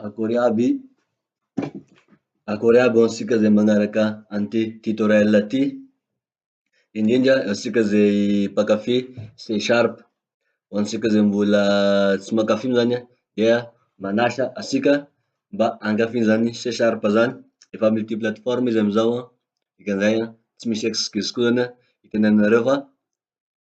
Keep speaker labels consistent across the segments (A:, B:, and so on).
A: Akory aby, akory aby ho antsika izay manaraka an'ity tutoriel ty, indrindra antsika izay mpankafy C sharp. Ho antsika izay mbola tsy mankafy io zany an, dia manasa antsika mba hankafy izany C sharp zany, efa multi plateforme izy amizao an, dikan'izay an tsy misy excuse koa zany an, hitenenanareo fa.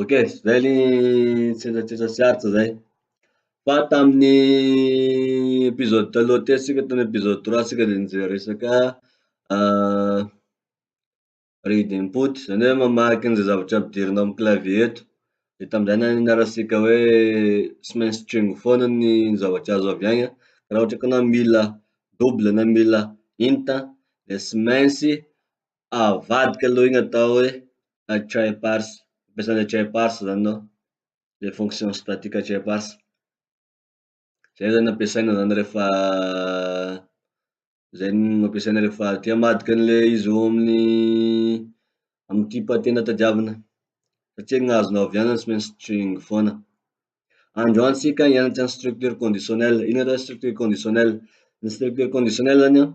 A: Ok, zay ny tsindritsindry sy arts zay. Fa tamin'ny episode taloha teo tsika tamin'ny episode trois tsika de nijery resaka read input zany hoe mamaky an'izay zavatra ampidirina amin'ny clavier eto. De tamin'izay nianarantsika hoe tsy maintsy string foana ny zavatra azo avy agny an, raha ohatra ka anao mila double na mila int an de tsy maintsy avadika aloha iny atao hoe address bars, ampiasana address bars zany ao, le fonction statique address bars, zay zany ampiasaina zany rehefa zay no ampiasaina rehefa te hamadika anle izy eo amin'ny amy type tena tadiavina satria ny azonao avy any zany tsy maintsy string foana. Androany tsika hianatra ny structure conditionnelle, ino zany structure conditionnelle, ny structure conditionnelle zany an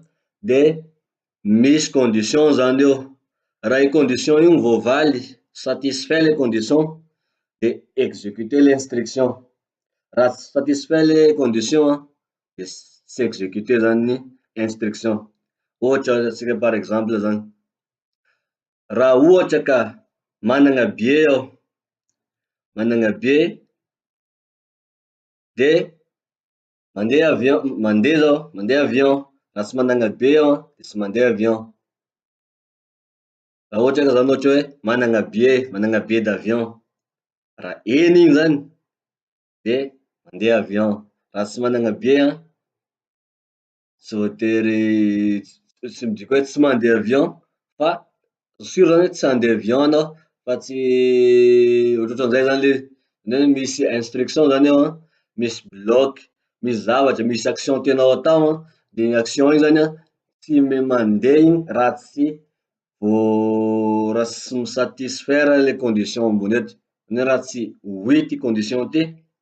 A: de misy condition zany eo, raha io condition io voavaly, satisfait le condition de executer le instruction, raha tsy satisfait le condition an de tsy executer zany ny instruction, ohatra azatsika par exemple zany, raha ohatra ka manana billet aho, manana billet de Mandeha avion, mandeha zao, mandeha avion, raha tsy managna billet aho de tsy mandeha avion, raha ohatra ka zany ohatra hoe managna billet, managna billet d'avion, raha eny iny zany de mandeha avion, raha tsy managna billet an, tsy voatery, tsy midika hoe tsy mandeha avion fa. Sûr zany hoe tsy handeha avion ianao fa tsy ohatrohatran'izay zany le zany hoe misy instruction zany ao an, misy bloc, misy zavatra, misy action tianao hatao an, de iny action iny zany an tsy m- mandeha iny raha tsy voa- raha tsy mi-satisfaire le condition ambony eto, zany hoe raha tsy oui ty condition ty.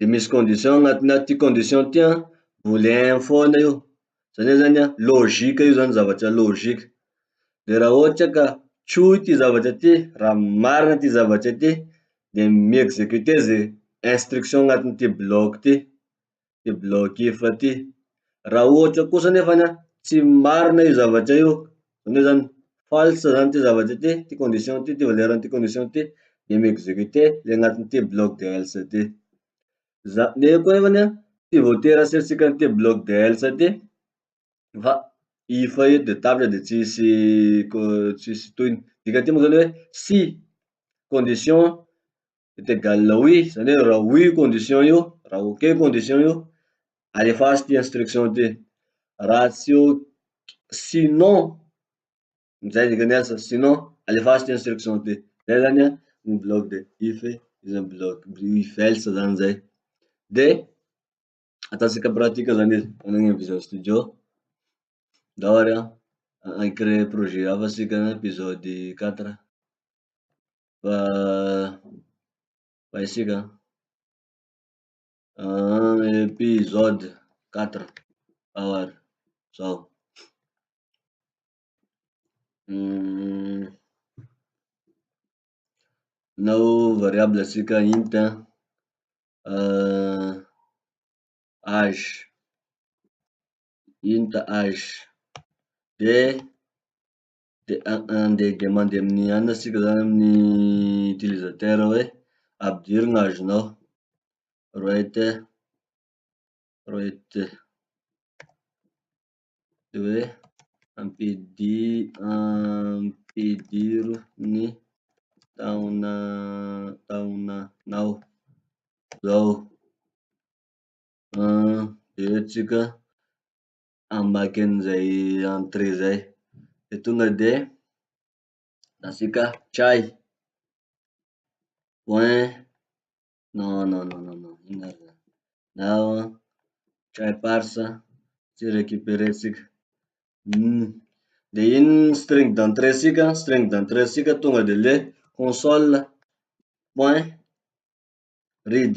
A: de misy condition agnatiny aty, condition ty an, boolean foana io, zany hoe zany an, logique io zany zavatra logique, de raha ohatra ka tsohy ty zavatra ty, raha marina ty zavatra ty, de mi-executer ze instruction agnatin'ity bloc ty, ty bloc if ty, raha ohatra kosa nefany an tsy marina io zavatra io Zany hoe zany, false zany ty zavatra ty, ty condition ty, ty valeur an'ity condition ty, de mi-execute le anatin'ity bloc de else ty. Za- nefany koa nefany an, tsy voatery aseritsiky an'ity bloc de else ty fa if io de tapitra de tsisy ko- tsisy tohiny. Dikan'ity moa zany hoe si condition est egal oui, zany hoe raha oui io condition io, raha ok io condition io, alefaso ty instruction ty, raha tsy ok sinon, zay dikany asa, sinon alefaso ty instruction ty, zay zany an ny bloc de if e, iza ny bloc if else zany zay, de ataotsika pratique zany izy, magnano visual studio, ndao ary an, hi-creer projet hafa sika na episode quatre. Fa fa isika an. Episode quatre ao ary zao. Nao variable asika int an, age, int age de. De andeha dia mandeha amin'ny anona tsika zany amin'ny utilisateur hoe ampidiro ny azonao, write a write de hoe ampidir- ampidiro ny taona taonanao zao an, de hoe tsika. hamaky anizay entrée zay. De tonga de asika try, point, non non non non non ino ary zany, nao try parse tsy recuperer tsika, uhm de iny string d'entrée sika, string d'entrée sika tonga de le console point read.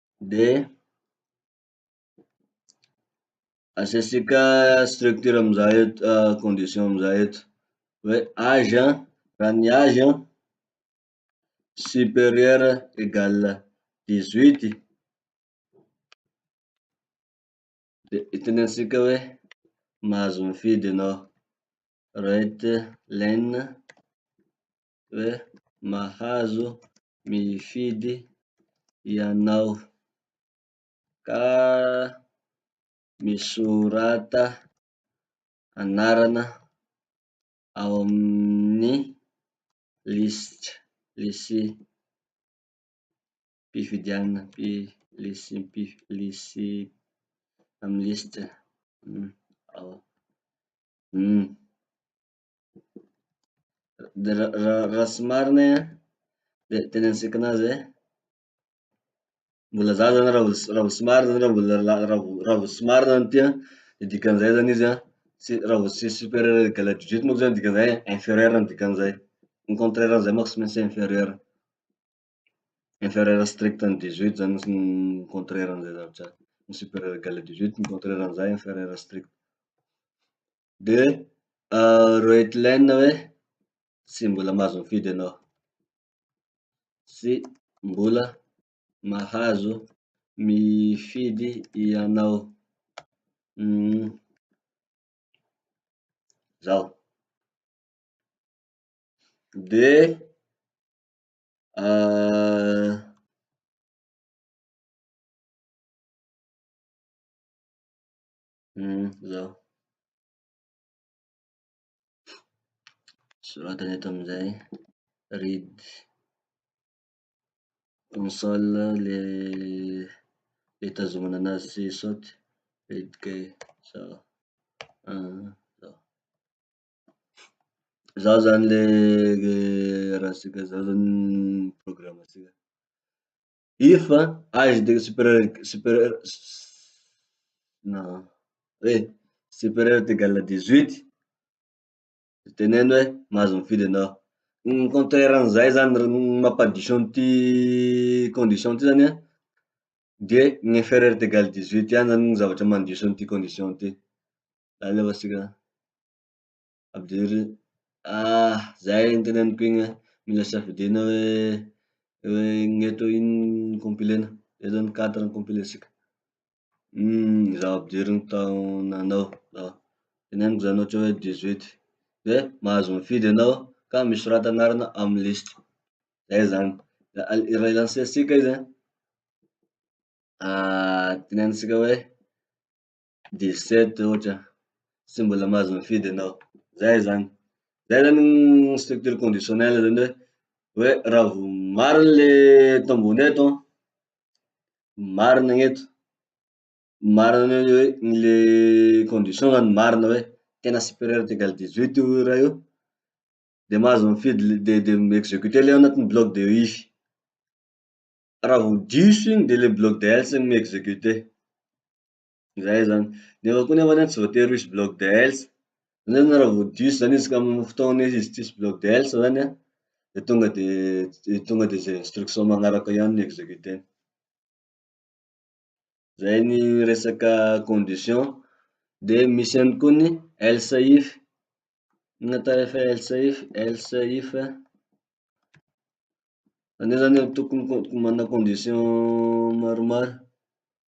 A: de asiasika structure amizay et- condition amizay eto hoe age an, raha ny age an superieur egal dix huit de itenenantsika hoe mahazo mifidy enao, right len. hoe mahazo mifidy ianao ka misorata anarana ao amin'ny lisitra lisi-pifidianana amin'ny lisitra ao. dia ra- ra- raha tsy marina iha dia teny antsika anazy hoe mbola zaza na raha mbola tsy- raha mbola tsy marina zany raha mbola la- raha mbo- raha mbo tsy marina zany ty an, de dikan'izay zany izy an, tsy raha mbo tsy superieur égal à dix huit moa zany dikan'izay hoe inferieur ny dikan'izay. Ny contraire an'izay manko tsy maintsy inferieur. Inferieur strict ny dix huit zany fotsiny ny contraire an'izay zavatra zay. Ny superieur égal à dix huit ny contraire an'izay inferieur strict. de roedlen hoe tsy mbola mahazo mifidy anao, tsy mbola mahazo mifidy ianao, zao. De Humm izao. Soratany eto amizay, read, console le le itazomana anazy sy saoty, read key, izao, izao. Izao zany le raha sika zao zany ny programme sika. If age de superieur superieur na hoe superieur est egal à dix huit, de teneno hoe mahazo mifidy enao. Ny contraire an'izay zany, ny mampadiso an'ity condition ty zany an, de ny inferieur est egal à dix huit ihany zany ny zavatra mandiso an'ity condition ty. Alefatsika any. Ampidiry, ah zay ny teneniko iny an, mila safidiana hoe hoe gn'eto ino ny compilena, eto ny quatre ny compilesika. Uhm zaho ampidiriny tao nanao ah, teneniko zany ohatra hoe dix huit, de mahazo mifidy enao ka misorata anarana amy liste, zay zany, la al- raha i-lancer tsika izy an, ah tenenintsika hoe. dix sept ohatra, tsy mbola mahazo mifidy enao. Zay zany, zay zany ny structure conditionnelle zany hoe, hoe raha vao marina le eto ambony eto an, marina ny eto, marina ny hoe le condition zany marina hoe tena superieur est egal dix huit io raha io, de mahazo mifidy le de de mi-executer le ao anatin'ny bloc de if. Raha vao diso iny de le bloc de else no mi-executer. Zay zany. Nefa koa nefa zany tsy voatery ho hisy bloc de health. Zany zany raha vao diso zany izy ka amy fotoana hoe hisy tsisy bloc de health zany an, de tonga de de tonga de ze instruction magnaraka eo ihany no executer-ny. Zay ny resaka condition. De misy ihany koa ny LCIF, inona atao efa hoe LCIF, LCIF, zany hoe zany tokony ko- mana condition maromaro.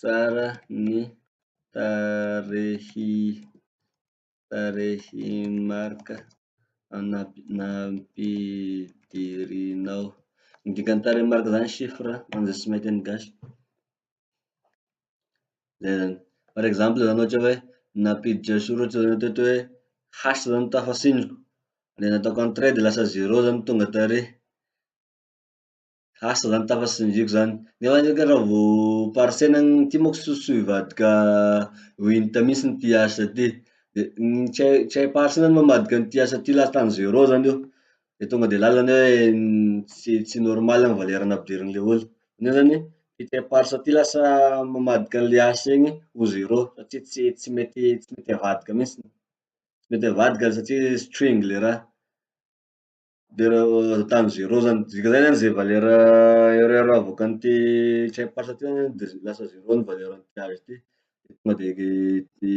A: Tsara ny tarehy tarehy Marc anampi- nampidirinao. Ny dikan'ny tarehy Marc zany chiffre manja sy mainty an'ny gasy. Zay zany. Par exemple zany ohatra hoe nampiditra soratra zany ohatra hoe H zany no tafasiniko, le nataoko en trait de lasa zero zany tonga tary. Lasa zany tafa tsy ny viko zany. Nefa ndreka zany raha vao parsena any ty manko sosoa hivadika ho inta mihintsy ty asa ty. De ny tsy hay- tsy hay parsena ny mamadika an'ity asa ty latany zero zany eo, de tonga de lalana hoe tsy tsy normal ny valera nampidirin'ny olona. Io zany ty tsy hay parse ty lasa mamadika anle asa iny ho zero satria tsy tsy mety tsy mety avadika mihintsiny. Tsy mety avadika satria sotroiny le raha. Dera tany zero zany, dika zay zany ze valeur erreur avoakan'ny ty check part ty zany de lasa zero ny valeur an'ny page ty. De tonga de ty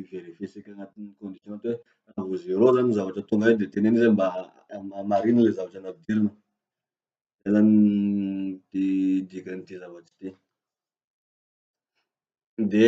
A: verifier tsika agnatin'ny condition ty hoe raha vao zero zany ny zavatra tonga eto de teneno izy hoe mba hamarino le zavatra nampidirina. Zay zany ty dikan'ity zavatry ty. De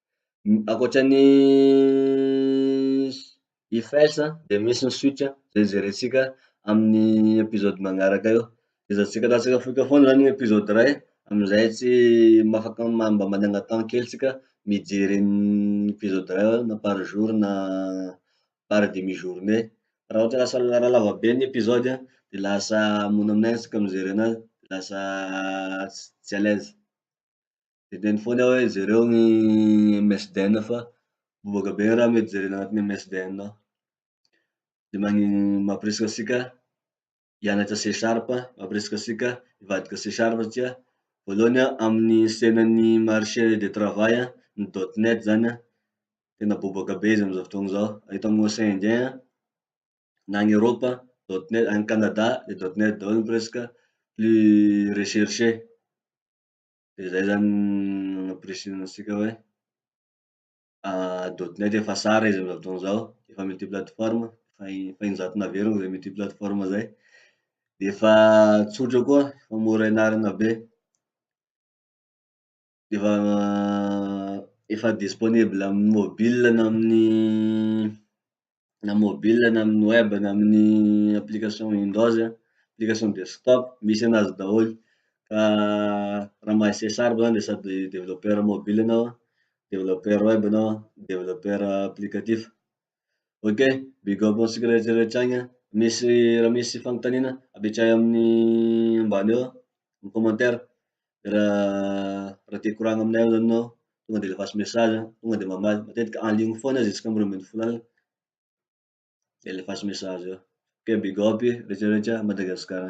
A: Ankoatra ny IFES an, de misy ny suite an, zay jerentsika amin'ny episode magnaraka eo. De zay tsy karahantsika fohika foana zany ny episode iray amizay tsy mafaka mba managna temps kely tsika mijery an'ny episode iray eo na par jour na par demi journée. Raha ohatra lasa raha lava be ny episode an, de lasa mora aminay tsika mijery anazy, lasa tsy à l'aise. Hedeno foana aho hoe jereo ny MSDN fa bobaka be ny raha mety jerena anatin'ny MSDN ao. De magni- mampirisika antsika hianatra C sharp, mampirisika antsika hivadika C sharp satria voalohany an, amin'ny sehatry ny marché de travail an, ny dot net zany an, tena bobaka be izy amizao fotoana zao. Eto amin'ny ocean indien an, na any Eropa, dot net, any Canada de dot net daholo presque plus recherche. de zay zany no ampirisihina antsika hoe dot net efa sara izy amizao fotoana zao, efa multi plateforme, efa efa injato naverina zay multi plateforme zay, efa tsotra koa, efa mora ianarana be, efa efa disponible amin'ny mobile na amin'ny. na mobile na amy web na amy application windows, application desktop, misy anazy daholo. Fa raha mahay CSR zany de sady developpeur mobile anao, developpeur web anao, developpeur applicatif. Ok, big up antsika rehetra rehetra agny an! Misy, raha misy fanontaniana apetrahy amin'ny ambany eo, amin'ny commentaire. raha te hikoragna aminay ao zany enao, tonga de alefaso message, tonga de mamaly, matetika en ligne foana izy isaka roa ambin'ny folo alina, de alefaso message eo, ok big up e, rehetra rehetra Madagasikara.